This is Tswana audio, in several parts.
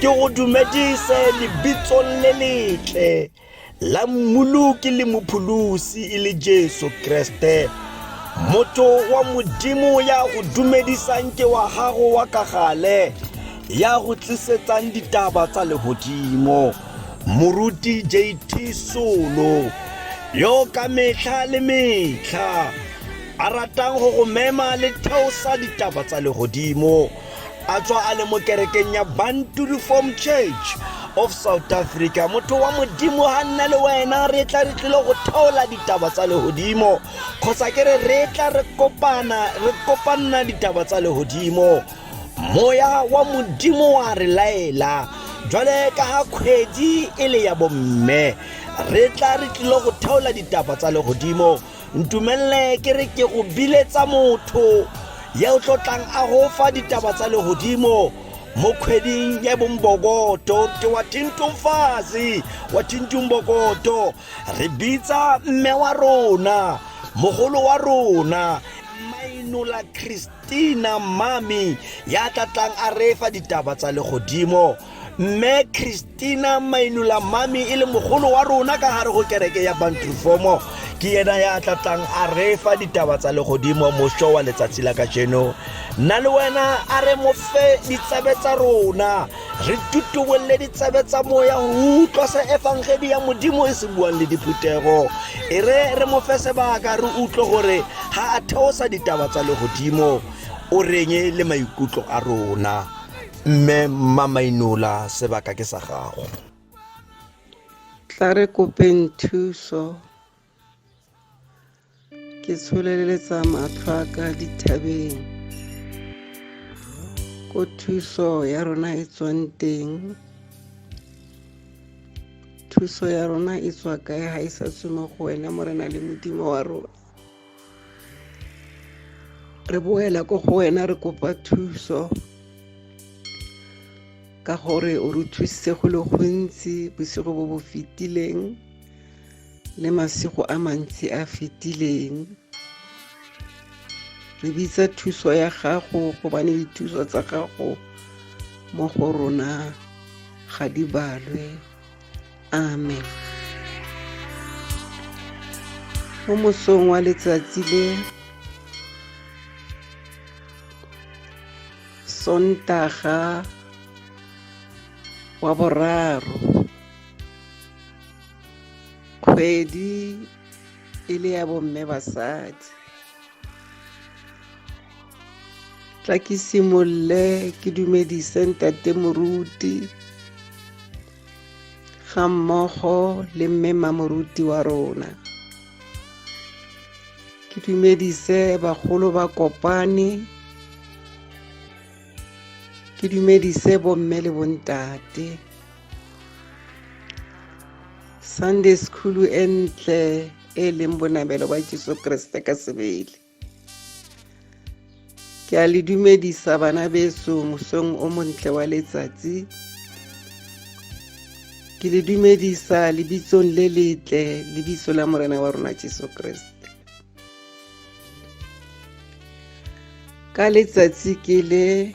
ke go dumedise lebitsong le letle la mmoloki le mopholosi e le jesu kreste motho wa modimo ya go dumedisang ke wa gago wa ka gale ya go tlisetsang ditaba tsa legodimo moruti jt solo yo ka metlha le metlha a ratang go go mema le theosa ditaba tsa legodimo a tswa a le mo kerekeng ya bantu reform church of south africa motho wa modimo ga nna le wena re tla re tlile go theola ditaba tsa legodimo kgotsa ke re re tla re kopana re kopanna ditaba tsa legodimo moya wa modimo wa re laela jwale ka ga kgwedi e le ya bomme re tla re tlile go theola ditaba tsa legodimo ntumelele ke re ke go biletsa motho ye o tlo tlang a go fa ditaba tsa legodimo mo kgweding ya bombokoto te wa tintumfazi wa tintumbokoto re bitsa mme wa rona mogolo wa rona mainola christ Tina Mmami ya tla tlang a reefa ditaba tsa legodimo. Mme Christina Mainula Mmami e le mogolo wa rona ka gare go kereke ya Bantrufomo ke yena ya tla tlang a reefa ditaba tsa legodimo moso wa letsatsi la kajeno. Nna le wena a re mo fe ditsabe tsa rona. re tutubolle ditsebe tsa moya go utlwa se efangedi ya modimo e se buang le diphuthego e re re mo fe sebaka re utlwe gore ga a theosa ditaba tsa legodimo o reng le maikutlo a rona mme mmamainola sebaka ke sa gago tla re kopeng thuso ke tsholeletsa matlho a ka dithabeng ko thuso ya rona e tswang teng thuso ya rona e tswa kae ga e sa tswe mo go wena morena le modimo wa rona re boela ko go wena re kopa thuso ka gore o re thusitse go le gontsi bosigo bo bo fetileng le masigo a mantsi a fetileng re bitsa thuso ya gago gobane dithuso tsa gago mo go rona ga di balwe amen mo mosong wa letsatsi le sontaga wa boraro kgwedi e le ya bomme basadi tla ke simolole ke dumedise ntate moruti ga mmogo le mme mamoruti wa rona ke dumedise bagolo ba kopane ke dumedise bomme le bontate sunday school e ntle e leng bonamelo ba jesu kriste ka sebele ke a le dumedisa bana beso mosong o montle wa letsatsi ke le dumedisa lebitsong le letle lebitso la morena wa rona jesu kriste ka letsatsi ke le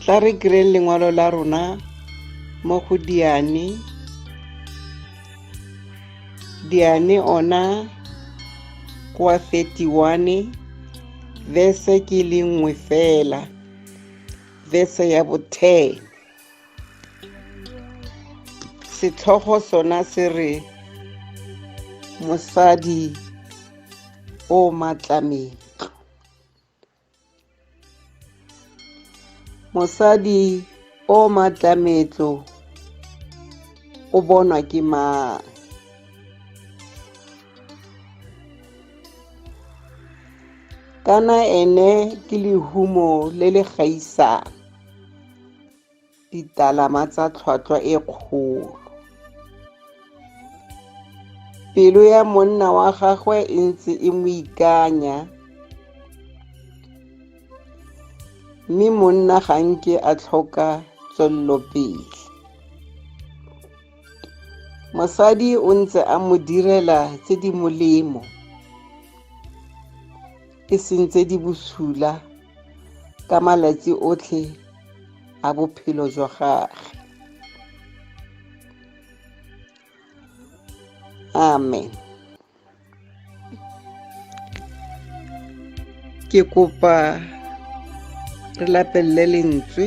tla re kreng lengwalo la rona mo go diane diane ona kwa 31 vese ke le nngwe fela vese ya bothee setlhogo sona se re mosadi o matlametlo mosadi o matlametlo o bonwa ke mang kana ene ke lehumo le le gaisang ditalama tsa tlhwatlhwa e kgolo. Pelo ya monna wa gagwe e ntse e mo ikanya mme monna ga nke a tlhoka tswellopele. Mosadi o ntse a mo direla tse di molemo. e seng tse di bosula ka malatsi otlhe a bophelo jwa gage amen ke kopa re lapelele lentswe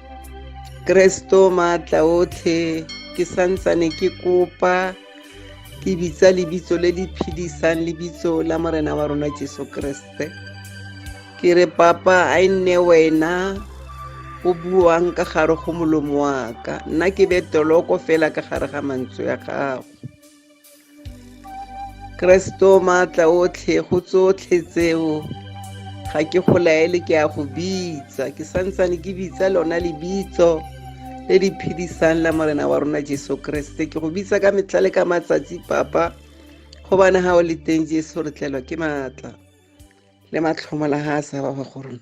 Kresto maatla otlhe ke santsane ke kopa ke bitsa lebitso le le phedisang lebitso la morena wa rona jesu kreste ke re papa a e nne wena o buang ka gare go molomo wa ka nna ke be toloko fela ka gare ga mantswe ya gago keresete o maatla otlhe go tsotlhe tseo ga ke go laele ke a go bitsa ke santsane ke bitsa lona lebitso le di phedisang la morena wa rona jesu keresete ke go bitsa ka metlha le ka matsatsi papa gobane ga o le teng jesu re tlelwa ke maatla le matlhomo la ga a sa ba go rona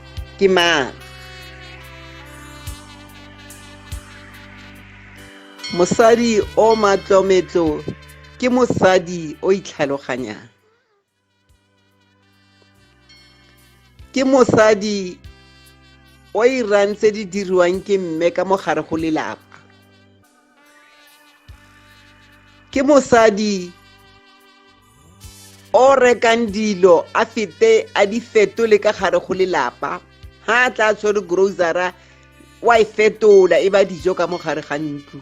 Ke mang? Mosadi o matlometlo ke mosadi o itlhaloganyang. Ke mosadi o irang tse di diriwang ke mme ka mo gare go lelapa. ke mosadi o rekang dilo a fete a di fetole ka gare go lelapa ha a tla tshwere grocery wa e fetola e ba dijo ka mo gare ga ntlo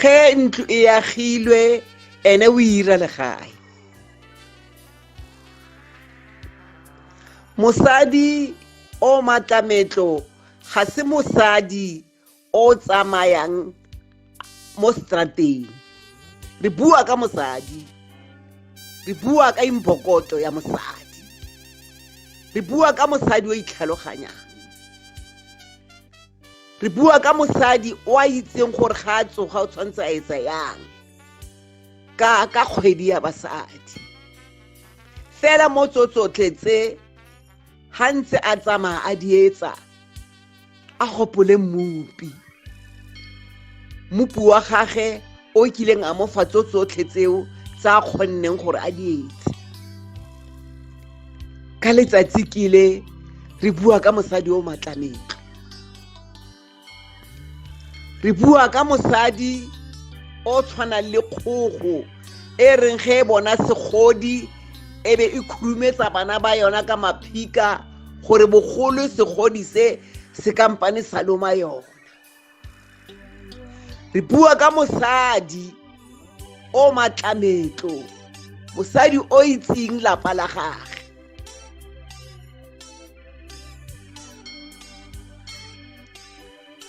ge ntlo e agilwe ene o ira legae mosadi o matlametlo ga se mosadi o tsamayang mo strateng re bua ka mosadi re bua ka imbokoto ya mosadi re bua ka mosadi o itlhaloganyang re bua ka mosadi o a itseng gore ga a tsoga o tshwanetse a etsa yang ka ka kgwedi ya basadi fela mo tsotsotle tse ga ntse a tsamaya a dietsa a gopole mmupi mmupi wa gage o kileng a mo fa tso tsotlhe tseo tsa a kgonneng gore a dietse ka letsatsi kile re bua ka mosadi o matlametlo re bua ka mosadi o tshwanang le kgogo e reng ge e bona segodi e be e khurumetsa bana ba yona ka maphika gore bogolo segodi se se kampane sa loma yona re bua ka mosadi o matlametlo mosadi o itseng lapa la gage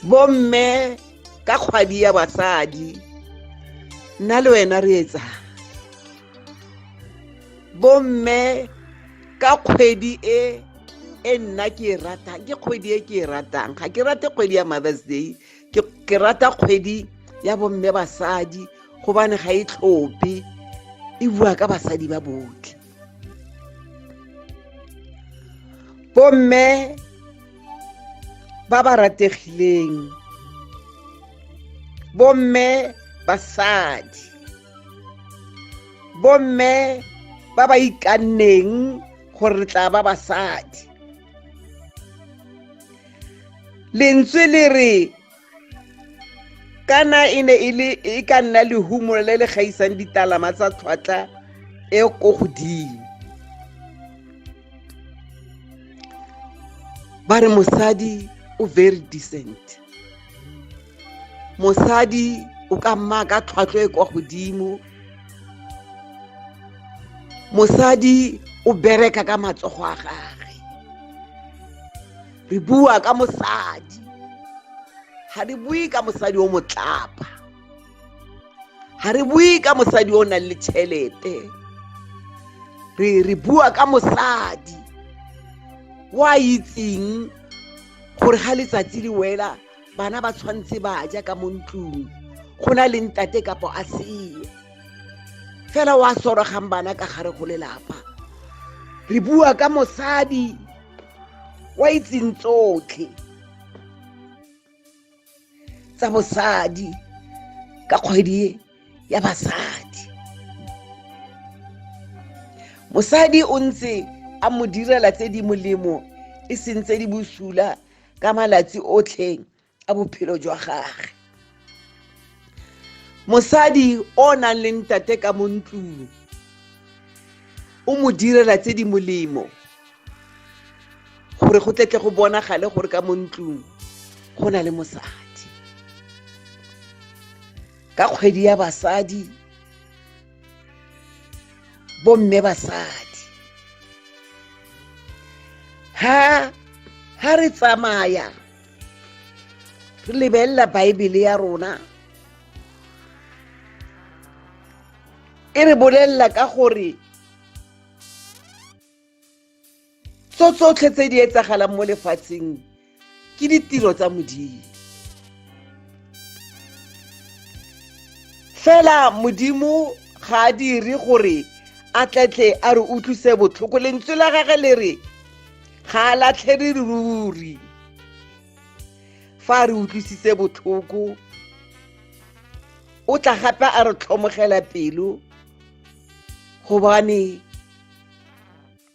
bomme ka kgwadi ya basadi nna le wena re etsa bomme ka kgwedi e e nna ke e ratang ke kgwedi e ke e ratang ga ke rate kgwedi ya mothers day ke rata kgwedi ya bomme basadi gobane ga e tlhope e bua ka basadi ba botlhe bomme ba ba rategileng bomme basadi bomme ba ba ikanneng gore re tla ba basadi lentswe le re kana e ne e le e ka nna lehumo le le gaisang ditalama tsa tlhwatlha e ko godimo ba re mosadi o very decent mosadi o ka mma ka tlhwatlhwa e kwa godimo mosadi o bereka ka matsogo a gage re bua ka mosadi ga re bue ka mosadi o motlapa ga re bue ka mosadi o nang le tšhelete re bua ka mosadi o a itseng gore ga letsatsi le wela bana ba tshwanetse ba ja ka mo ntlong go na le ntate kapo a seo fela o a sorogang bana ka gare go lelapa re bua ka mosadi wa itseng tsotlhe tsa bosadi ka kgwedi ya basadi mosadi o ntse a mo direla tse di molemo e seng tse di bosula ka malatsi otlhe a bophelo jwa gage mosadi o o nang le ntate ka mo ntlong o mo direla tse di molemo gore go tletle go bonagale gore ka mo ntlong go na le mosadi ka kgwedi ya basadi bomme basadi ha ha re tsamaya re lebelela baebele ya rona e re bolelela ka gore tso tsotlhe tse di etsagalang mo lefatsheng ke ditiro tsa modimo fela modimo ga a dire gore a tletle a re utlwise botlhoko lentswe la gage le re ga a latlhele ruri fa a re utlwisitse botlhoko o tla gape a re tlhomogela pelo gobane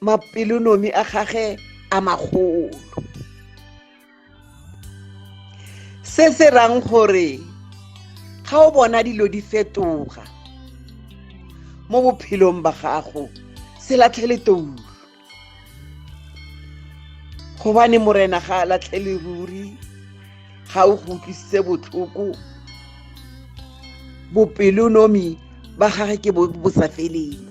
mapelonomi a gage a magolo se se rang gore ga o bona dilo di fetoga mo bophelong ba gago se latlhele toulo gobane morena ga a latlhele ruri ga o go utlwisitse botlhoko bopelonomi ba gage ke bo bo sa feleng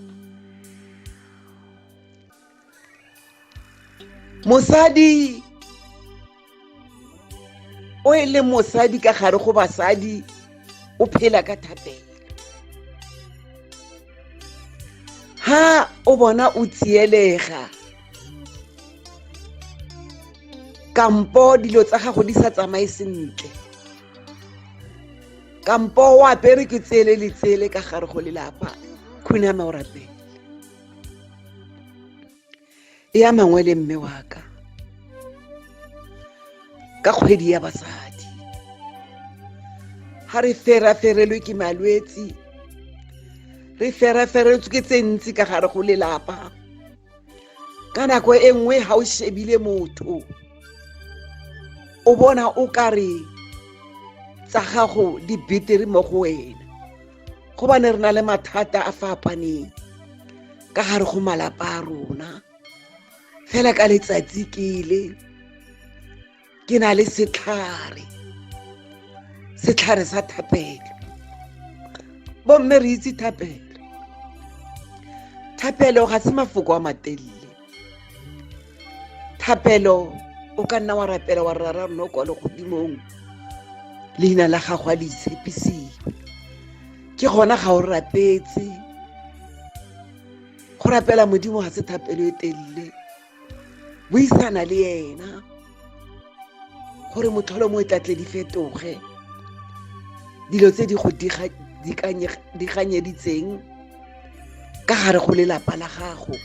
mosadi o e le mosadi ka gare go basadi o phela ka thapelo ha o bona o tsielega kampo dilo tsa gago di sa tsamaye sentle kampo o apere ke tsele le tsele ka gare go lelapa khuname o rapele e ya mangwe le mme wa ka ka kgwedi ya basadi ga re feraferelwe ke malwetsi re feraferetswe ke tse ntsi ka gare go lelapa ka nako e nngwe ga o shebile motho o bona o ka re tsa gago di betere mo go wena go ba ne re na le mathata a fapaneng ka gare go malapa a rona fela ka letsatsi kele ke na le setlhare setlhare sa thapelo bomme re itse thapelo thapelo ga se mafoko a matelele thapelo o ka nna wa rapela wa rara rona kwa legodimong leina la gago a le itshepisiwe ke gona ga o rapetse go rapela modimo ga se thapelo e telele buisana le ena gore motlholo mo e tla tle di fetoge dilo tse di go diganyeditseng ka gare go lelapa la gago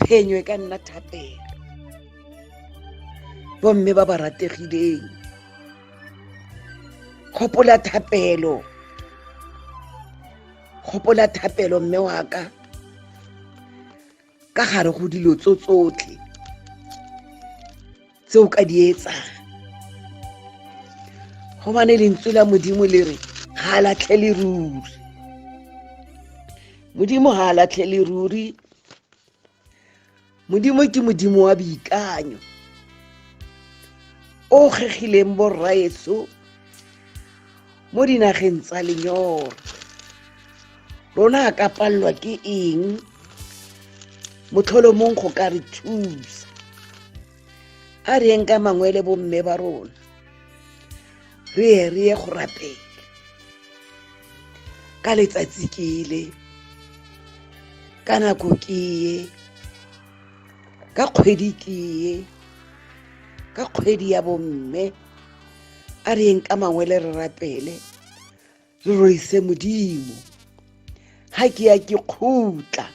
phenyo e ka nna thapelo bomme ba ba rategileng kgopola thapelo kgopola thapelo mme wa ka ka gare go dilo tso tsotlhe tse o ka di etsang go bane lentswe la modimo le re ga a latlhele ruri modimo ga a latlhele ruri modimo ke modimo wa boikanyo o kgegileng borraetso mo dinageng tsa lenyora rona a ka palelwa ke eng motlholomong go ka re thusa a re yeng ka mangwe le bomme ba rona re ye re ye go rapela ka letsatsi ke ile ka nako ke ye ka kgwedi ke ye ka kgwedi ya bomme a re yeng ka mangwele re rapele re roise modimo ga ke ya ke kgutla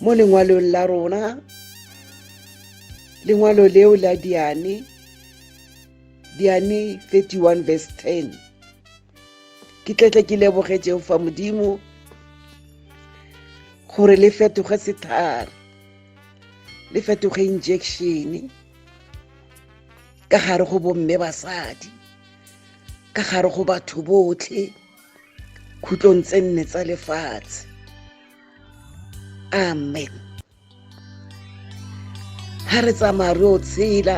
mo lengwalong la rona lengwalo leo la diane diane 31 verse 10 ke tletle ke leboge jehofa modimo gore le fetoge sethare le fetoge injection ka gare go bomme basadi ka gare go batho botlhe khutlong tse nne tsa lefatshe amen ha re tsamaya re o tshela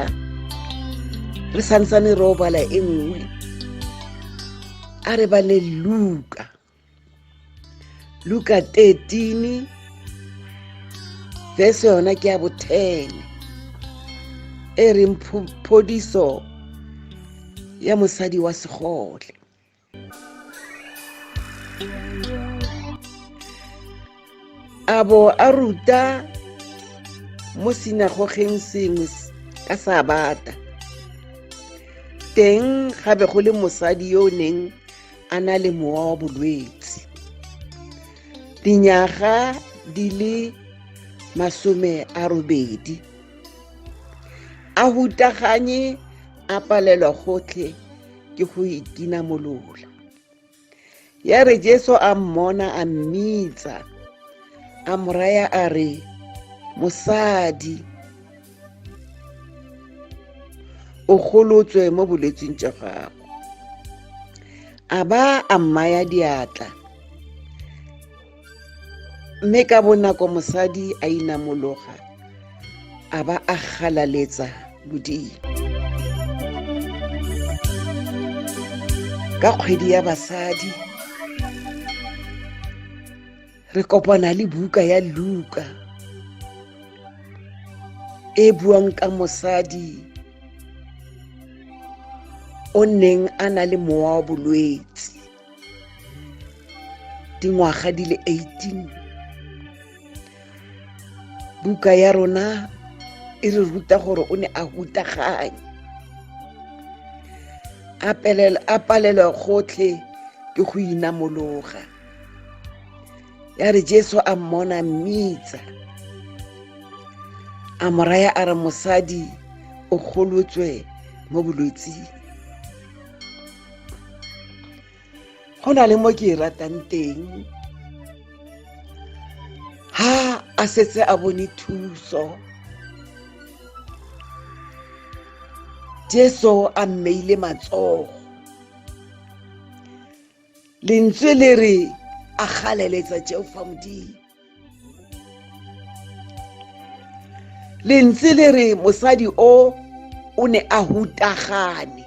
re santsane re o bala e nngwe a re bale luka luka 13 verse yona ke ya bothene e reng phodiso ya mosadi wa segole a bo a ruta mo sinagogeng sengwe ka sabata teng ga be go le mosadi yo o neng a na le mowa wa bolwetse dinyaga di le masome a robedi a hutaganye a palelwa gotlhe ke go itina molola ya re jesu a mmona a mmitsa a moraya a re mosadi o golotswe mo bolwetsing jwa gago a ba a mmaya diatla mme ka bonako mosadi a inamologa a ba a galaletsa modimo ka kgwedi ya basadi re kopana le buka ya luka e buang ka mosadi o neng a na le mowa wa bolwetse dingwaga di le 18 buka ya rona e re ruta gore o ne a hutaganye a palelwa gotlhe ke go inamologa ya re jesu a mmona mmitsa a moraya a re mosadi o golotswe mo bolwetsing go na le mo ke e ratang teng ha a setse a bone thuso jesu a mmeile matsogo lentswe le re a galeletsa jehofa modimo lentswe le re mosadi o o ne a hutagane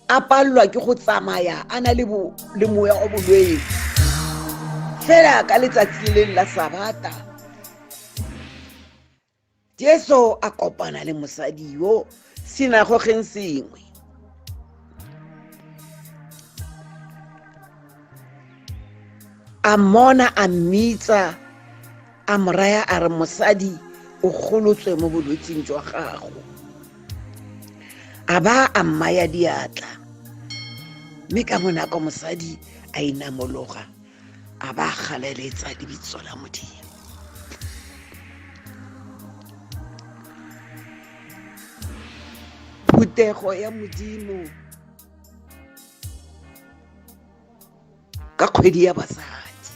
a palelwa ke go tsamaya a na le moya o bolwetse fela ka letsatsi le leng la sabata jesu a kopana le mosadi yo sinagogeng sengwe a mona a mmitsa a moraya a re mosadi o golotswe mo bolwetsing jwa gago a ba a mmaya diatla mme ka bonako mosadi a inamologa a ba galeletsa lebitso la modimo phuthego ya modimo ka kgwedi ya basadi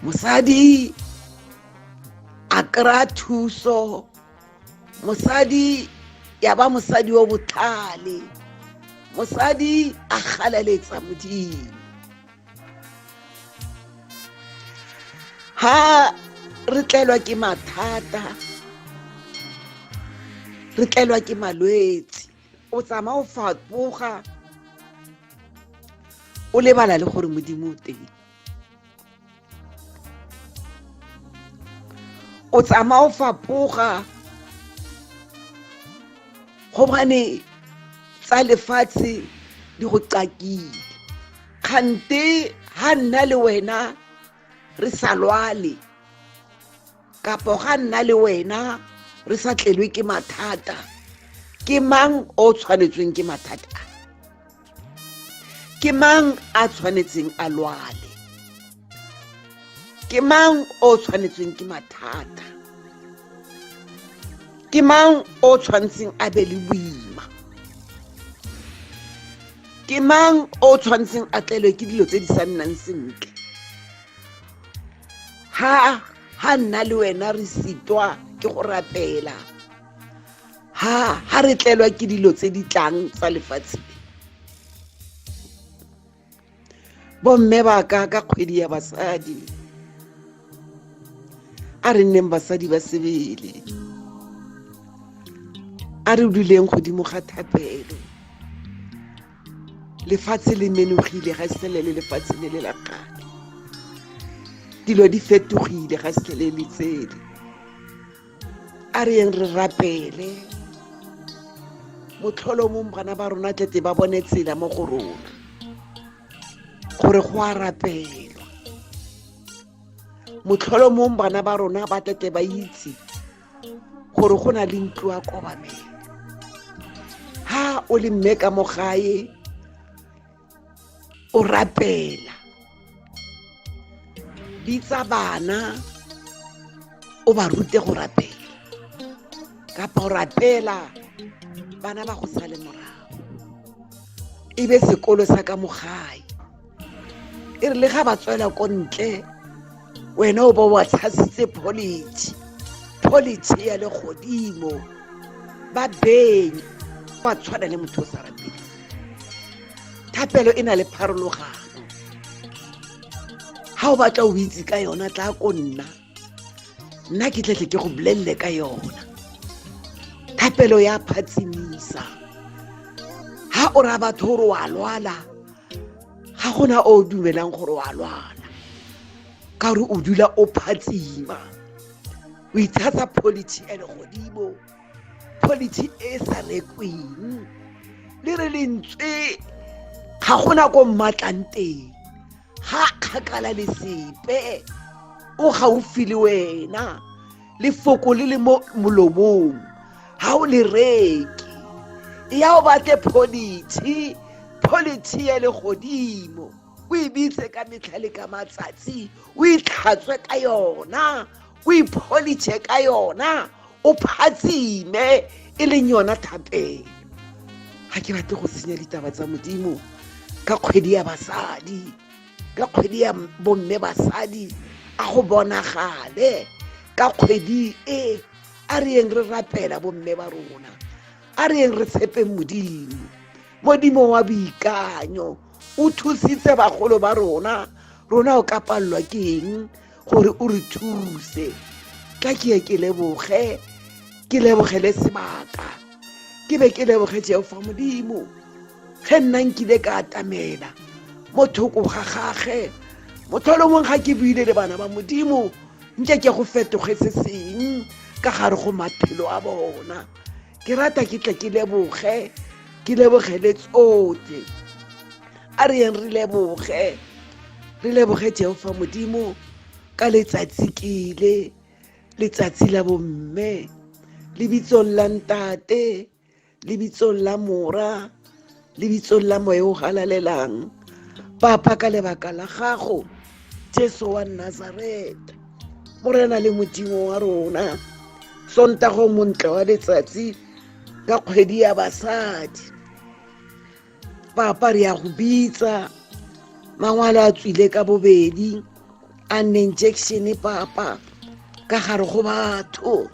mosadi a kry-a thuso mosadi ya ba mosadi o botlhale mosadi a galaletsa modimo ha re tlelwa ke mathata re tlelwa ke malwetsi o tsamaya o fapoga o lebala le gore modimo o teng o tsamaya o fapoga gobane tsa lefatshe di go qakile kgante ha nna le wena re sa lwale kapo ga nna le wena re sa tlelwe ke mathata ke mang o tshwanetsweng ke mathata a ke mang a tshwanetseng a lwale ke mang o tshwanetsweng ke mathata ke mang o tshwanetseng a be le boima ke mang o tshwanetseng a tlelwe ke dilo tse di sa nnang sentle ha ha nna le wena re sitwa ke go rapela ha ha re tlelwa ke dilo tse di tlang tsa lefatshe bomme ba ka ka kgwedi ya basadi a re nneng basadi ba sebele a re duleng godimo ga thapelo lefatshe le menogile ga se le lefatshe le le la kgale dilo di fetogile ga se le le tsele a re yeng re rapele motlholo mong bana ba rona tlete ba bone tsela mo go rona gore go a rapelwa motlholo mong bana ba rona ba tlete ba itse gore go na le ntlo ya kobamele ha o le mme ka mo gae o rapela bitsa bana o ba rute go rapela kapa o rapela bana ba go sale morago e be sekolo sa ka mo gae e re le ga ba tswela ko ntle wena o ba wa tshasitse policy policy ya le godimo ba beng ba tshwana le motho o sa rateng thapelo e na le pharologano ga o batla o itse ka yona tla ko nna nna ke tletle ke go bolelele ka yona thapelo ya phatsimisa ha o ra batho gore wa lwala ga gona o dumelang gore wa lwala ka gore o dula o phatsima o itshatsa polity e legodimo polity e sa rekweng le re lentswe ga gona ko mmatlanteng ga kgakala le sepe o gaufi le wena lefoko le le mo molomong ga o le reke ya o batle policy policy ya le godimo o e bitse ka metlha le ka matsatsi o itlhatswe ka yona o ipholitshe ka yona o phatsime e leng yona thapelo ga ke batle go senya ditaba tsa modimo ka kgwedi ya basadi ka kgwedi ya bomme basadi a go bonagale ka kgwedi e a re yeng re rapela bomme ba rona a re yeng re tshepeng modimo modimo wa boikanyo o thusitse bagolo ba rona rona o ka palelwa ke eng gore o re thuse ka ke ye ke leboge ke lebogele sebaka ke be ke leboge jehofa modimo ge nna nkile ka atamela mo thoko ga gage motholomong ga ke buile le bana ba modimo nke ke go fetoge se seng ka gare go maphelo a bona ke rata ke tle ke leboge ke leboge le tsote a re yeng re leboge re leboge jehofa modimo ka letsatsi kele letsatsi la bomme lebitsong la ntate lebitsong la mora lebitsong la moe o galalelang papa ka lebaka la gago jesu wa nazareta morena le modimo wa rona sontago montle wa letsatsi ka kgwedi ya basadi papa re ya go bitsa mangwalo a tswile ka bobedi a nne injection papa ka gare go batho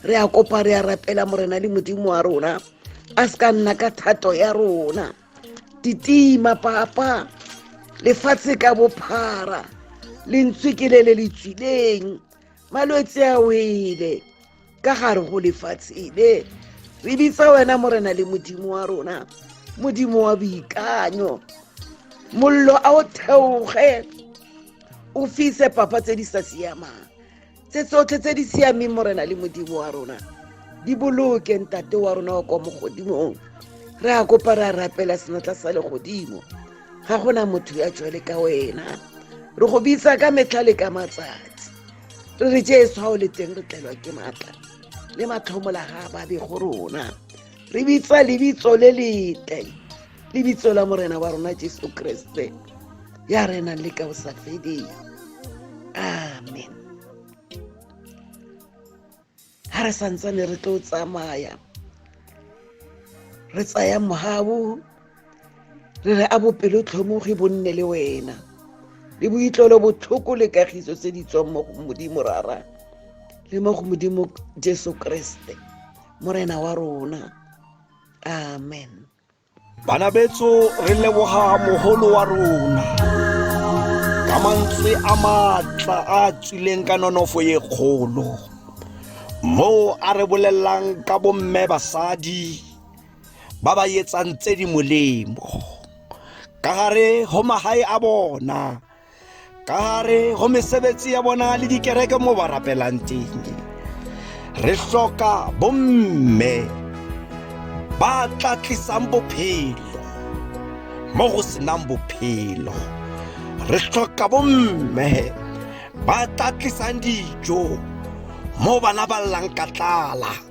re a kopa re a rapela morena le modimo wa rona a se ka nna ka thato ya rona titima papa lefatshe ka bophara lentswe ke le le le tswileng malwetse a wele ka gare go lefatshe le re bitsa wena morena le modimo wa rona modimo wa boikanyo mollo a o theoge o fise papa tse di sa siamang tse tsotlhe tse di siameng morena le modimo wa rona di boloke ntate wa rona wa kwa mogodimong re a kopa re a rapela senatla sa legodimo ga gona motho ya jwale ka wena re go bitsa ka metlha le ka matsatsi re re jesu ga o le teng re tlelwa ke maatla le matlhomola ga babe go rona re bitsa lebitso le letle lebitso la morena wa rona jesu kreste ya re nang le ka o sa feding amen ga re santsane re tlo tsamaya re tsaya mogabo re re a bopelotlhomogi bo nne le wena le boitlolo botlhoko le kagiso tse di tswang mo go modimo rara le mo go modimo jesu kreste morena wa rona amen bana betso re leboga mogolo wa rona ka mantswe a maatla a tswileng ka nonofo e kgolo moo a re bolelelang ka bomme basadi ba ba etsang tse di molemo ka gare go magae a bona ka gare go mesebetsi ya bona le dikereke mo ba rapelang teng re hloka bomme ba tla tlisang bophelo mo go senang bophelo re hloka bomme ba tla tlisang dijo mo bana ba llang ka tlala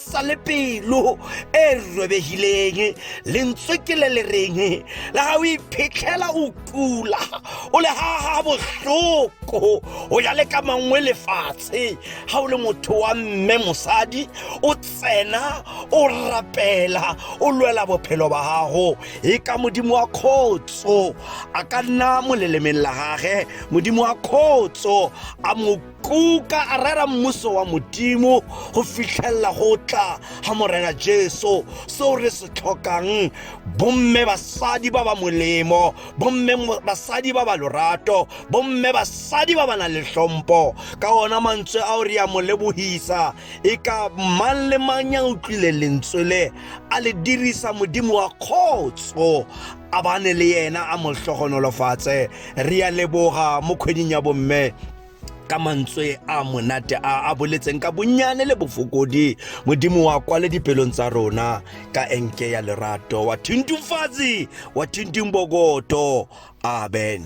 sa le pelo e robegileng lentswe ke le le reng le ga o iphitlhela o kula o le gaga botlhoko o ya le ka mangwe lefatshe ga o le motho wa mme mosadi o tsena o rapela o lwela bophelo ba gago e ka modimo wa kgotso a ka nna molelemeng la gage modimo wa kgotso a mo kuka a rera mmuso wa modimo go fitlhelela go tla ga morena jesu seo re se tlhokang bomme basadi ba ba molemo bomme basadi ba ba lorato bomme basadi ba ba nang le tlhompo ka ona mantswe ao re ya mo lebohisa e ka mang le mang ya utlwile lentswe le a le dirisa modimo wa kgotso a bane le yena a mo hlogonolofatse re ya leboga mo kgweding ya bomme ka mantswe a monate a a boletseng ka bonnyane le bofokodi modimo wa kwale dipelong tsa rona ka enke ya lerato wa thintumfatsi wa thintung bokoto amen